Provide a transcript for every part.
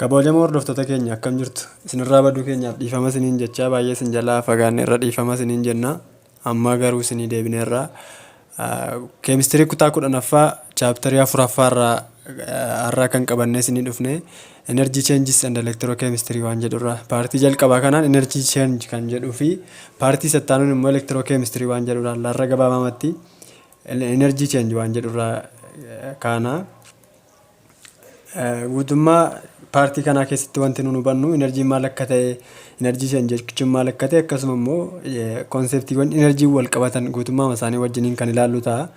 Kabajamoo hordoftoota keenya akkam jirtu? Isinirraa baduu keenyaaf dhiifama isiniin jechaa baay'ee isin jalaa fagaanne irra dhiifama isiniin jenna. Amma garuu isinii deebineerra. Keemistirii kutaa kudhanaffaa chaaptarii afuraffaa irraa har'aa kan qabannee isinii dhufne energy changes and electrochemistry waan jedhurra. Paartii jalqabaa kanaan energy change kan jedhuu fi paartii sattaanuun immoo electrochemistry waan jedhurra laarra gabaabamatti energy change waan jedhurra kaana. Guutummaa paartii kanaa keessatti wanti nuun hubannu inarjiin maal akka ta'e, inarjii shan jechuun maal akka ta'e akkasuma immoo konseptiiwwan inarjiin wal qabatan guutummaa isaanii wajjiniin kan ilaallu ta'a.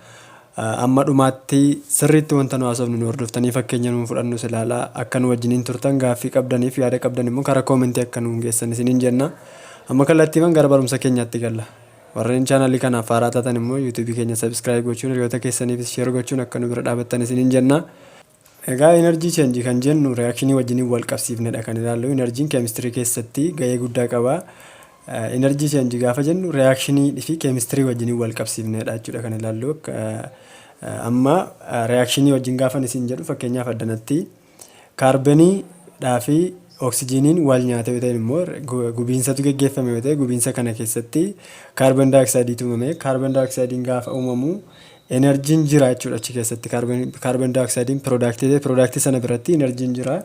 Amma dhumaatti sirriitti wanta nu haasofnu nu hordoftanii fakkeenya nuun fudhannus ilaalaa akka nu wajjiniin turtan gaaffii qabdaniif yaada qabdan immoo karaa koomentii akka nuun geessan isiniin jenna. Amma kallattiiman gara barumsa keenyaatti galla. Warreen channel kanaaf haaraa taatan immoo YouTube keenya subscribe gochuun hiriyoota keessaniifis share gochuun akka nu bira dhaabattan isiniin jenna. Egaa energy change kan jennu reaction wajjiniin wal qabsiifnedha kan ilaallu. Energy'n chemistry keessatti gahee guddaa qaba. Energy change gaafa jennu reaction fi chemistry wajjiniin wal qabsiifnedha jechuudha kan ilaallu. Amma reaction wajjin gaafan isin jedhu fakkeenyaaf addanatti. Kaarbenii dhaa fi oksijiiniin waal nyaate yoo ta'een immoo gubiinsatu geggeeffame yoo ta'e gubiinsa kana keessatti kaarben daayoksaayidiitu uumame. Kaarben daayoksaayidiin gaafa uumamu enerjiin jira jechuudha achi keessatti kaarben daayoksaayidiin piroodaaktii ta'e piroodaaktii sana biratti enerjiin jira.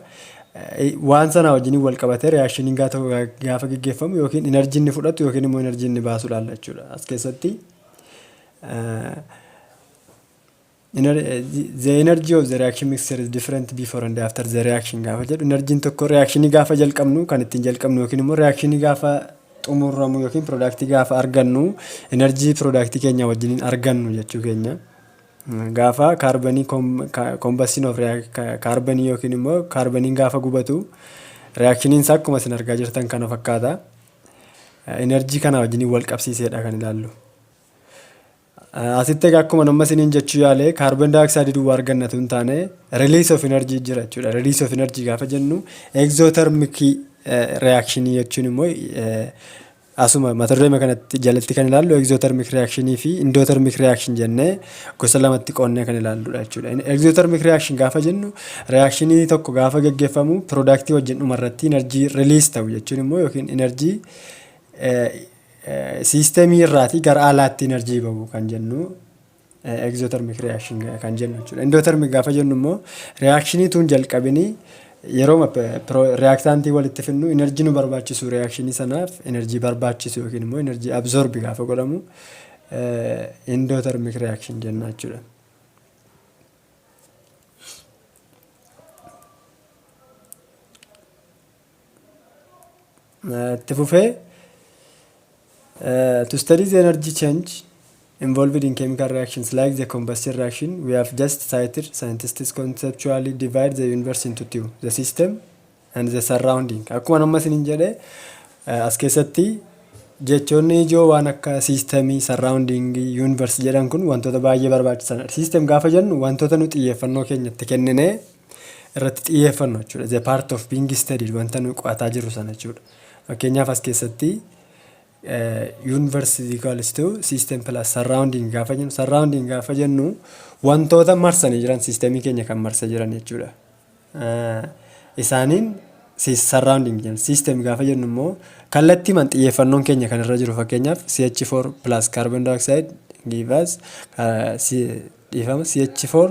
Waan sanaa wajjin wal qabatee riyaakshiniin gaafa geggeeffamu yookiin enerjiin ni fudhatu yookiin immoo enerjiin ni baasu ilaalla jechuudha. As keessatti The energy of the reaction mixture is different before and after the reaction gaafa jedhu enerjiin tokko reakshinii gaafa jalqabnu kan ittiin jalqabnu yookiin immoo reakshinii gaafa xumuramu yookiin piroodaaktii gaafa argannu enerjii piroodaaktii keenya wajjiniin argannu jechuu keenya. Gaafa kaarbanii kombastiin of kaarbanii yookiin immoo kaarbaniin gaafa gubatu reakshiniin isaa akkuma isin argaa jirtan kana fakkaata. Enerjii kana wajjiniin wal qabsiiseedha kan ilaallu. Asitti egaa akkuma amma isiniin jechuu yaale kaarboon daayooksaayidii duwwaa arganna tun taane release of energy jira jechuudha. Release of energy gaafa jennu exothermic reaction jechuun immoo asuma mata duree kanatti jalatti kan ilaallu exothermic reaction fi endothermic reaction jennee gosa lamatti qoonnee kan ilaalludha jechuudha. Exothermic reaction gaafa jennu reaction tokko gaafa gaggeeffamu product wajjin dhumarratti energy release ta'u jechuun immoo yookiin energy Siistemii irraatii gara alaatti enerjii bahu kan jennu exothermic reaction kan jennu jechuudha. Endothermic gaafa jennu immoo reakshinii tuun jalqabinii yeroo reaaktaantii walitti finnu enerjii nu barbaachisu reakshinii sanaaf enerjii barbaachisu yookiin immoo enerjii absorbi gaafa godhamu endothermic reaction jenna jechuudha. Itti fufee Uh, to study the energy change involved in chemical reactions like the combustion reaction, we have just cited scientists conceptually divide the universe into two, the system and the surrounding. Akkuma amma isin jedhe uh, as keessatti jechoonni ijoo waan akka siistemii, surrounding, universe jedhan kun wantoota baay'ee barbaachisanidha. Siistem gaafa jennu wantoota nu xiyyeeffannoo keenya itti kenninee irratti xiyyeeffannu jechuudha. The part of being studied wanta nuyi qo'ataa jirru sana jechuudha. Fakkeenyaaf as keessatti universe is equals to system plus surrounding gaafa jennu surrounding gaafa jennu wantoota marsanii jiran siistemii keenya kan marsee jiran jechuudha. Isaaniin surrounding jenna. System gaafa jennu immoo kallattiimaan xiyyeeffannoon keenya kan irra jiru fakkeenyaaf CH4 plus carbon dioxide give us dhiifama CH4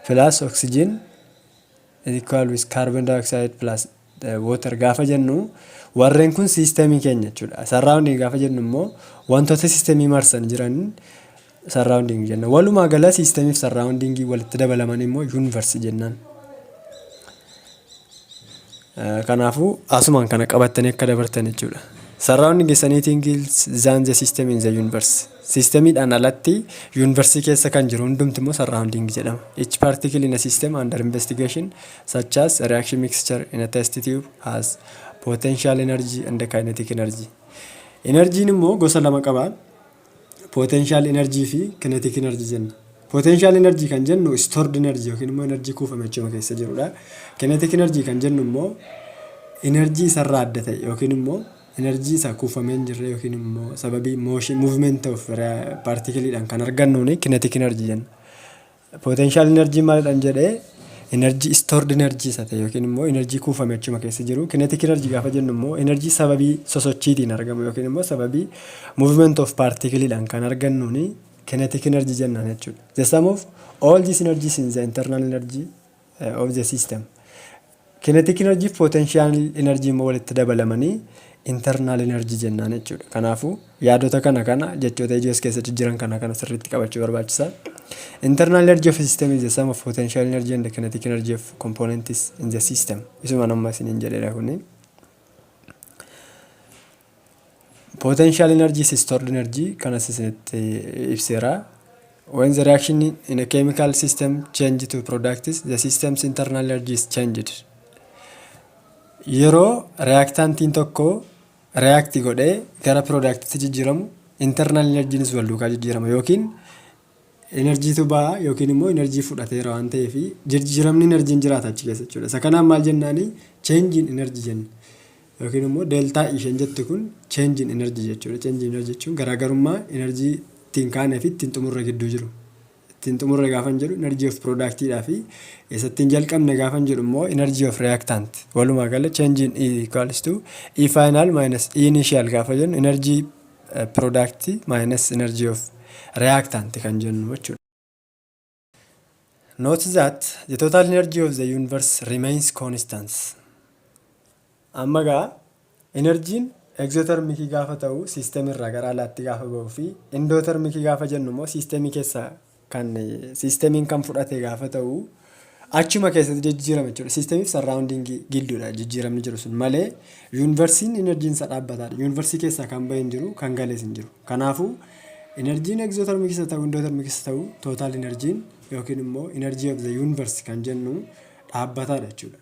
plus oxygen is equal with carbon dioxide plus eh, water gaafa jennu warreen kun siistemii keenya jechuudha. Surrounding gaafa jennu immoo wantoota siistemii marsan jiran surrounding jenna. Walumaa gala siistemiif surroundingii walitti dabalaman immoo universe jennaan. Kanaafuu asumaan kana qabattanii akka dabartan jechuudha. Surrounding is anything else than the system in the universe. Siistemiidhaan alatti yuunivarsii keessa kan jiru hundumti immoo surrounding jedhama. Each particle in a system under investigation such as a reaction mixture in a test tube has potential energy and kinetic energy. Enerjiin immoo gosa lama qaba. Potential energy fi kinetic energy jenna. Potential energy kan jennu stored energy yookiin immoo energy kuufame achuma keessa jirudha. Kinetic energy kan jennu immoo energy isarraa adda ta'e yookiin immoo energy isa kuufamee hin jirre yookiin immoo sababii motion movement of particle dhaan kan argannuuni kinetic energy jenna. Potential energy maalidhan jedhe energy stored energy isa ta'e yookiin immoo energy kuufame achuma keessa jiru. Kinetic energy gaafa jennu immoo energy sababii sosochiitiin argamu yookiin immoo sababii movement of particle dhaan kan argannuuni kinetic energy jennaan jechuudha. The sum of all these energies in the internal energy of the system. Kinetic energy fi potential energy immoo walitti dabalamanii internal energy jennaan jechuudha. Kanaafuu yaadota kana kana jechoota ijoo as keessatti jiran kana kana sirriitti qabachuu barbaachisa. Internal energy of a system is the sum of potential energy and kinetic energy of components in the system. Isuma nama isiniin jedheera kuni. Potential energy is stored energy kanas isinitti ibseera. When the reaction in a chemical system change to products, the system's internal energy is changed. Yeroo reactantiin tokko react godhee gara product'tti jijjiiramu internal energy'nis wal duukaa jijjiirama yookiin Inarjiitu baha yookiin immoo inarjii fudhateera waan ta'eef jirjiramni inarjiin jiraata achi keessa jechuudha. Isa kanaan maal jennaani change in energy jenna. Yookiin immoo deltaa isheen jette kun change in energy jechuudha. Change in energy jechuun garaagarummaa inarjii ittiin kaanee fi ittiin xumurre gidduu jiru. Ittiin xumurre gaafan jedhu inarjii of piroodaaktiidhaa fi isa ittiin jalqabne gaafan jedhu immoo inarjii of reyaaktaant. Walumaa gala change in E equals to E final minus E initial gaafa jennu inarjii pirodaaktii minus energy of reactant kan jennu jechuudha. Note that the total energy of the universe remains constant. Amma gaa enerjiin egzotermikii gaafa ta'u siistemii irraa gara alaatti gaafa ba'u fi indootermikii gaafa jennu immoo siistemii keessaa kan siistemiin kan fudhate gaafa ta'u achuma keessatti jijjiirama jechuudha. Siistemiif sarraawundiingii gidduudha jijjiiramni jiru sun malee yuunivarsiin enerjiin isaa dhaabbataadha. Yuunivarsii keessaa kan bahe hin jiru kan galees hin jiru. Kanaafuu enerjiin egzootarmii keessa ta'u indootarmii keessa ta'u tootaal enerjiin yookiin immoo enerjii of the yuunivarsi kan jennu dhaabbataadha jechuudha.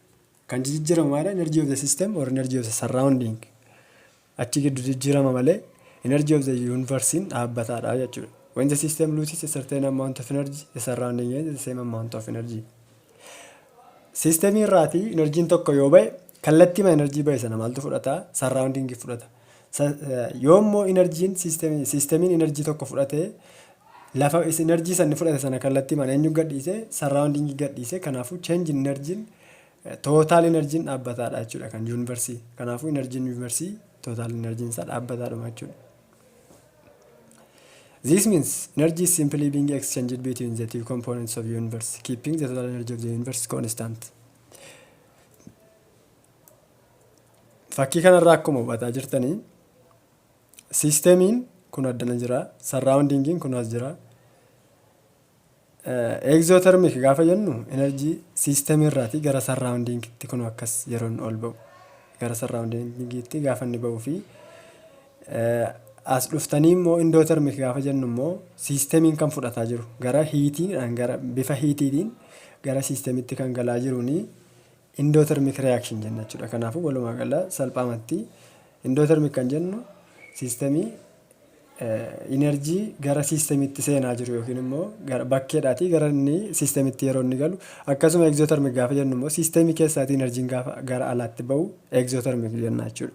Kan jijijjiramu maalidha? Energy of the system or energy of the surrounding. Achi giddu jijjirama malee energy of the universe'n dhaabbataadha jechuudha. When the system loses a certain amount of energy, the surrounding gains the same amount of energy. Systemii irraati enerjiin tokko yoo ba'e kallattiima enerjii ba'e sana maaltu fudhata? Surrounding fudhata. Sa, Yoo immoo inarjiin system, systemiin inarjii tokko fudhate lafa is- inarjii sanni fudhate sana kallattiimaan eenyu gadhiise surrounding gadhiise kanaafuu change in inarjiin total inarjiin dhaabbataadha jechuudha kan yuunivarsii kanaafuu inarjiin yuunivarsii total inarjiin isaa dhaabbataadhuma jechuudha. This means energy is simply being exchanged between the two components of universe, keeping the total energy of the universe constant. Fakkii kanarraa akkuma hubataa jirtanii siistemiin kun addana jira. Sarraawundiingiin kun as jira. Egzootermik gaafa jennu enerjii siistemii irraatii gara sarraawundiingiitti kun akkas yeroo inni ol ba'u. Gara sarraawundiingiitti gaafa inni ba'uu fi as dhuftanii immoo indootermik gaafa jennu immoo siistemiin kan fudhataa jiru gara hiitiidhaan gara bifa hiitiitiin gara siistemitti kan galaa jiruun Indotermic reaction jenna jechuudha. Kanaafuu walumaa gala salphaamatti indotermic kan jennu siistemii inerjii gara siistemitti seenaa jiru yookiin immoo bakkeedhaatii gara inni siistemitti yeroo inni galu akkasuma egzootermik gaafa jennu immoo siistemii keessaatii inerjiin gaafa gara alaatti ba'u egzootermik jenna jechuudha.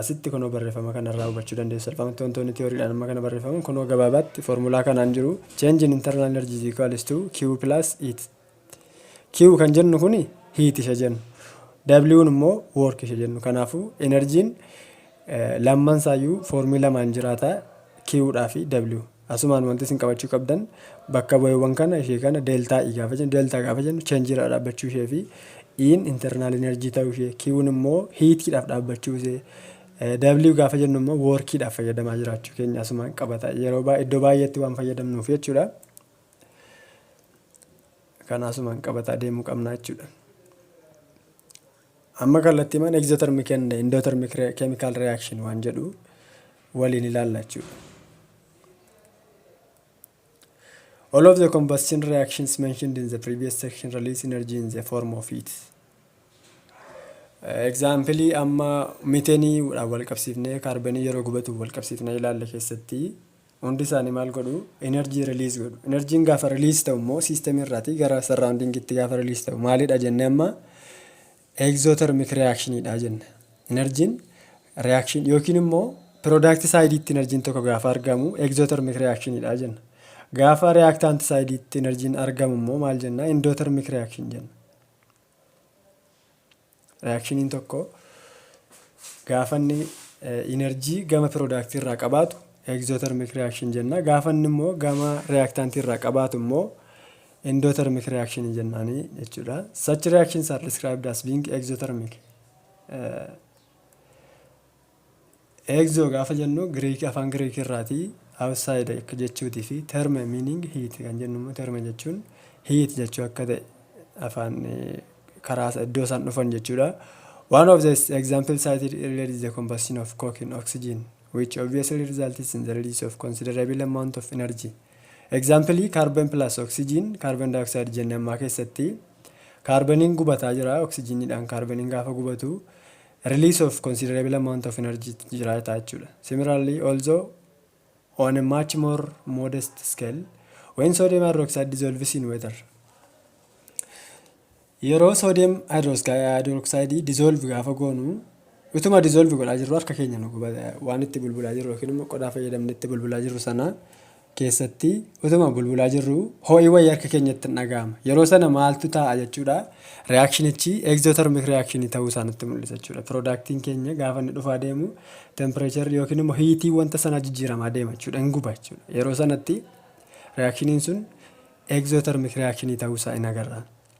Asitti kunoo barreeffama kanarraa hubachuu dandeessu. Salphaamatti wantoonni tiyooriidhaan amma kana barreeffaman kunoo gabaabaatti foormulaa kanaan jiru. Change in internal energy is equals to Q plus heat. Q kan jennu kuni heat isha jennu. W'n immoo work isha jennu. Kanaafuu enerjiin lamman isaayyuu foormii lamaan jiraata Q dhaa fi W. Asumaan wanti isin qabachuu qabdan bakka bu'eewwan kana ishee kana delta i gaafa jennu delta gaafa jennu change irraa dhaabbachuu ishee fi iin internal energy ta'uu ishee kiwuun immoo hiitiidhaaf dhaabbachuu ishee W gaafa jennu immoo woorkiidhaaf fayyadamaa jiraachuu keenya asumaan qabata yeroo baa iddoo baay'eetti waan fayyadamnuuf jechuudha. Kana asumaan qabataa deemuu qabna jechuudha. Amma kallattiimaan exothermic and endothermic re- chemical reaction waan jedhu waliin ilaalla jechuudha. All of the combustion reactions mentioned in the previous section release energy in the form of heat. Egzaampilii amma miteenii wal qabsiifnee kaarbanii yeroo gubatu wal qabsiifnee ilaalle keessatti Hundi isaanii maal godhu? Energy release godhu. Energy'n gaafa release ta'u immoo system irraati gara surrounding'tti gaafa release ta'u maalidha jenne amma exothermic reaction dha jenna. Energy'n reaction yookiin immoo product side'tti energy'n tokko gaafa argamu exothermic reaction dha jenna. Gaafa reactant side'tti energy'n argamu immoo maal jenna? Endothermic reaction jenna. Riyaakshiniin tokko gaafa inni inarjii gama piroodaaktii irraa qabaatu egzootermik riyaakshin jenna. Gaafa inni immoo gama riyaaktaantii irraa qabaatu immoo endootermik riyaakshinii jennaani jechuudha. Such reactions are described as being exothermic. Exo gaafa jennu Greek afaan Greek irraati outside akka jechuuti fi therme meaning heat kan jennu immoo therme jechuun heat jechuu akka ta'e afaan karaa iddoo isaan dhufan jechuudha. One of the examples cited earlier is the combustion of coke in oxygen, which obviously results in the release of considerable amount of energy. Example carbon plus oxygen carbon dioxide jenne ammaa keessatti kaarbaniin gubataa jira oksijiniidhaan kaarbaniin gaafa gubatu release of considerable amount of energy jiraata jechuudha. Similarly, although on a much more modest scale, when sodium hydroxide dissolves in water, yeroo sodium hydroxide dissolve gaafa goonu utuma dissolve godhaa jirru harka keenya nu gubata waan itti bulbulaa jirru yookiin immoo qodaa fayyadamne itti bulbulaa jirru sana keessatti utuma bulbulaa jirruu ho'i wayii harka keenyatti dhaga'ama. Yeroo sana maaltu taa'a jechuudha? Reyaakshinichi egzootermik reyakshinii ta'uu isaa nutti mul'isa jechuudha. Piroodaaktiin keenya gaafa inni dhufaa deemu tempireecharri yookiin immoo hiitii wanta sanaa jijjiiramaa deema jechuudha. Hin guba jechuudha. Yeroo sanatti reyaakshiniin sun egzootermik reyakshinii ta'uu isaa in agarra.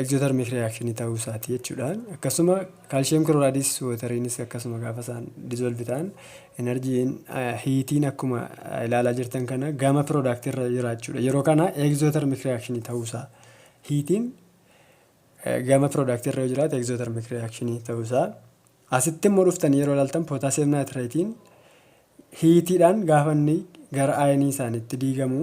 Exothermic reaction ta'uu isaati jechuudha. Akkasuma calcium chlorides wateriinis akkasuma gaafa isaan dissolve ta'an enerjiin hiitiin akkuma ilaalaa jirtan kana gama product irra jira jechuudha. Yeroo kana exothermic reaction ta'uu isaa hiitiin gama product irra yoo jiraate exothermic reaction ta'uu isaa asitti immoo dhuftanii yeroo ilaaltan potassium nitrate'n hiitiidhaan gaafa inni gara ayinii isaaniitti diigamu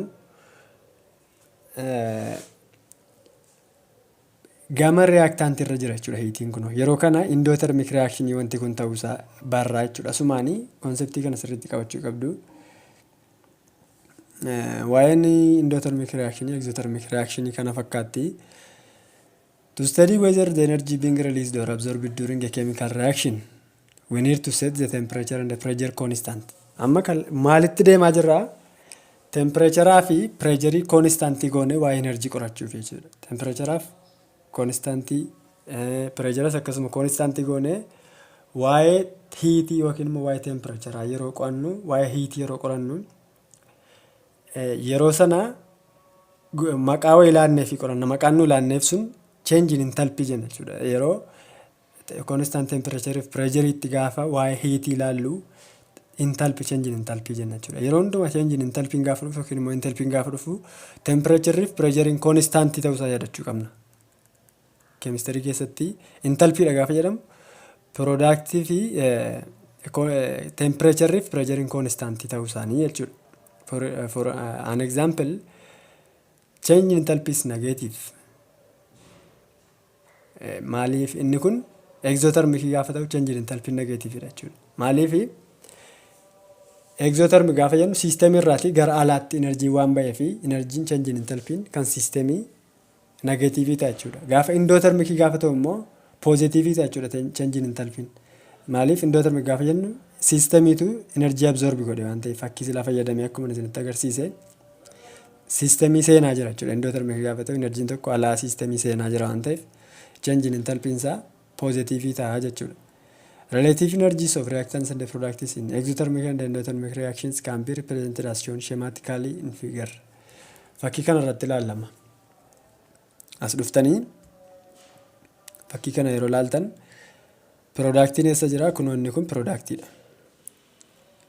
gama reactant irra jira jechuudha hiitiin kun yeroo kana endothermic reaction wanti kun ta'uu isaa barraa jechuudha sumaanii konseptii kana sirriitti qabachuu qabdu waa'een endothermic reaction exothermic reaction kana fakkaatti to study whether the energy being released or absorbed during a chemical reaction We need to set the temperature and the pressure constant. Amma kal maalitti deemaa jirra? Tempireecharaa fi pireejarii koonistaantii goonee waa'ee enerjii qorachuuf jechuudha. Tempireecharaaf koonistaantii pireejaras akkasuma koonistaantii goonee waa'ee hiitii yookiin immoo waa'ee tempireecharaa yeroo qo'annu waa'ee hiitii yeroo qorannu yeroo sana maqaa wayii laannee fi qoranna maqaan nu laanneef sun cheenjiin intalpii jenna jechuudha. Yeroo Constant temperature fi pressure itti gaafa waa'ee heat ilaallu intalpi change in intalpi jenna jechuudha. Yeroo hundumaa change in intalpi gaafa dhufu yookiin immoo intalpi gaafa dhufu temperature fi pressure in constant ta'uu isaa yaadachuu qabna. Chemistry keessatti intalpi dha gaafa jedhamu product fi temperature fi pressure in constant ta'uu isaanii jechuudha. For, for uh, an example, change in intalpi is negative. Maaliif inni kun exotherm fi gaafa ta'u change in enthalpy negative dha jechuudha. Maaliif exotherm gaafa jennu system irraati gara alaatti energy waan ba'ee fi energy change in enthalpy kan system negative ta'a jechuudha. Gaafa endothermic gaafa ta'u immoo positive ta'a jechuudha change in enthalpy. Maaliif endothermic gaafa jennu systemiitu energy absorb godhe waan ta'eef fakkii silaa fayyadamee akkuma isinitti agarsiise. Siistemii seenaa jira jechuudha. Indoterm eega gaafa ta'u inarjiin tokko alaa siistemii seenaa jira waan ta'eef change in enthalpy isaa poozitiivii ta'a jechuudha. Relative energies of reactants and products in exothermic and endothermic reactions can be represented as shown schematically in figure. Fakkii kana irratti ilaallama. As dhuftanii fakkii kana yeroo ilaaltan piroodaaktiin eessa jira? Kunoo inni kun piroodaaktiidha.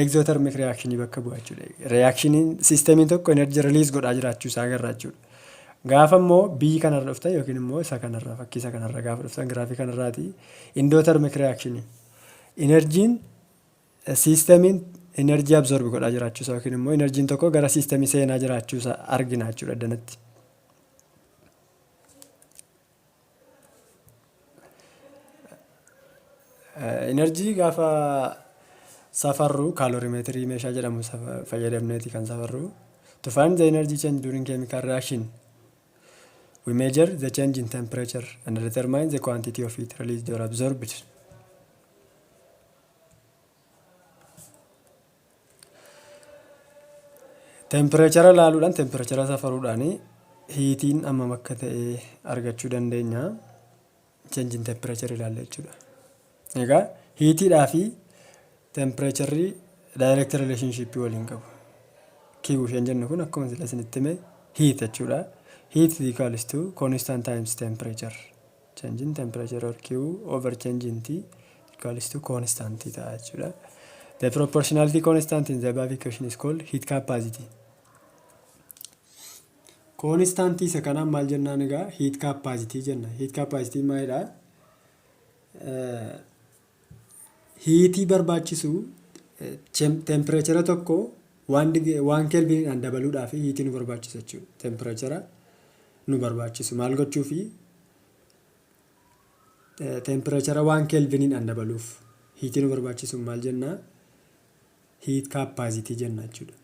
Egzoothermic reaction bakka bu'a jechuudha. Reactioniin siistemiin tokko energy release godhaa jiraachuu isaa agarra jechuudha. Gaafa immoo biyyi kanarra dhuftan yookiin immoo isa kanarra fakkii isa kanarra gaafa dhuftan giraafii kanarraati indootermik reaakshiniin enerjiin siistemiin enerjii absorbi godhaa jiraachuusa yookiin immoo enerjiin tokko gara siistemii seenaa jiraachuusa arginaa jechuudha danatti. Inarjii gaafa safarru kaaloorimeetirii meeshaa jedhamu fayyadamneeti kan safarru. To find the energy change during chemical reaction, we measure the change in temperature and determine the quantity of heat released or absorbed. Tempireechara ilaaluudhaan tempireechara safaruudhaan hiitiin hammam akka ta'e argachuu dandeenya. Cheenjiin tempireechara ilaalla jechuudha. Egaa hiitiidhaa fi tempireecharri daayireekti rileeshinshiippii waliin qabu. Kiiwuu isheen jennu kun akkuma sila isinitti hime hiit jechuudha. Hiit is equals to constant times temperature. Change in temperature or Q over change in T equals to constant ta'a jechuudha. The proportionality constant in the above equation is called heat capacity. Constant isa kanaan maal jennaan egaa heat capacity jenna. Heat capacity maalidha? Hiitii barbaachisu teempireechara tokko waan waan keelviniidhaan dabaluudhaaf hiitii nu barbaachisu jechuudha. Teempireechara nu barbaachisu maal gochuufi teempireechara waan keelviniidhaan dabaluuf hiitii nu barbaachisu maal jennaa? Hiit kaapaazitii jenna jechuudha.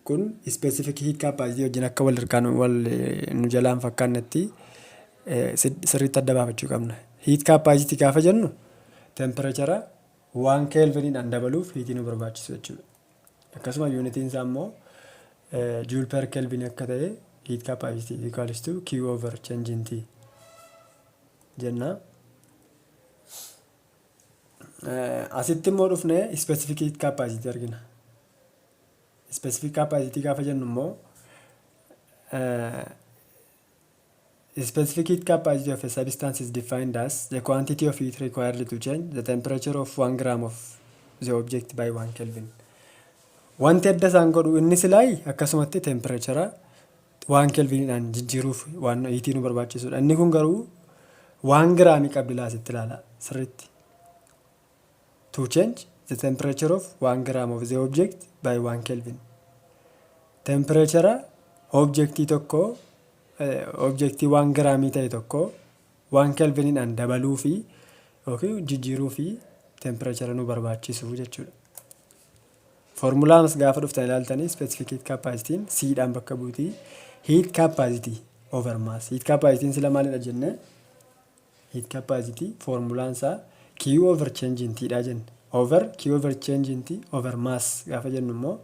Kun specific hiikkaa paasivii wajjin akka wal irkaa nu wal nu jalaan fakkaannetti sirriitti adda baafachuu qabna. Hiikkaa paasitii gaafa jennu temperechara waan keelviniidhaan dabaluuf hiitii nu barbaachisu jechuudha. Akkasuma yuunitiin isaa immoo juul per keelvin akka ta'e hiikkaa paasitii equals to q over change in t jenna. Asitti immoo dhufnee specific hiikkaa paasitii argina. Specific capacity gaafa jennu immoo Specific capacity of a substance is defined as the quantity of heat required to change the temperature of 1 gram of the object by 1 Kelvin. Wanti adda isaan godhu inni silaayi akkasumatti tempireechara waan kelviniidhaan jijjiiruuf waan hiitii nu barbaachisudha. Inni kun garuu waan giraamii qabdi laasitti ilaala sirriitti. To change the temperature of one gram of the object by one Kelvin. Tempireechara objektii tokkoo objektii waan giraamii ta'e tokkoo waan kelviniidhaan dabaluu fi yookiin jijjiiruu fi tempireechara nu barbaachisu jechuudha. Foormulaanis gaafa dhuftan ilaaltanii specific heat capacity siidhaan bakka buutii heat capacity over mass. Heat capacity sila maalidha jennee Heat capacity foormulaan isaa Q over change in T dha jenne. Over Q over change in T over mass gaafa jennu immoo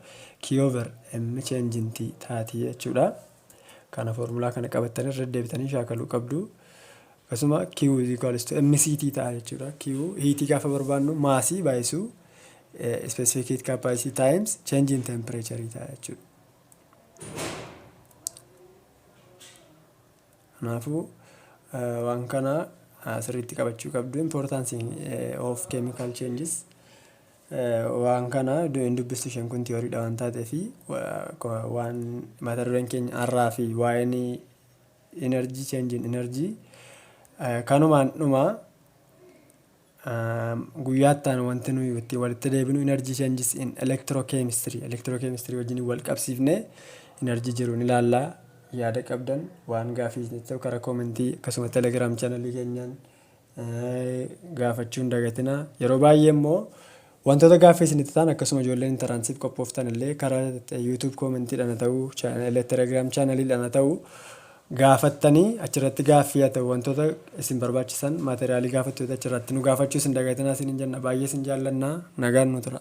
Q over M change in T taati jechuudha. Kana foormulaa kana qabattanii irra deddeebitanii shaakaluu qabdu. Akkasuma Q is equals to MCT ta'a jechuudha. Q hiitii gaafa barbaannu maasii baay'isuu specific heat capacity times change in temperature ta'a jechuudha. Kanaafuu, waan kana sirriitti qabachuu qabdu. Importance of chemical changes. Waan kana hin dubbistu isheen kun tiyooriidha waan taateef waan mata dureen keenya har'aa fi waa'een energy change in energy kanumaan dhuma. Guyyaa itti aanu wanti nuyi itti walitti deebinu energy changes in electrochemistry electrochemistry wajjin wal qabsiifnee energy jiru ni ilaalla. Yaada qabdan waan gaafii isinitti ta'u karaa koomentii akkasuma telegram channel keenyaan eh, gaafachuu hin dagatinaa. Yeroo baay'ee immoo Wantoota gaaffii isinitti ta'an akkasuma ijoolleen intaraansiif qophooftan illee karaa YouTube comment dhaan haa ta'u, telegram channel dhaan haa ta'u gaafattanii achirratti gaaffii haa ta'u wantoota isin barbaachisan material gaafattu yoo ta'e achirratti nu gaafachuus hin dagatinaa isiniin jenna. Baay'ee isin jaallanna. Nagaan nu tura.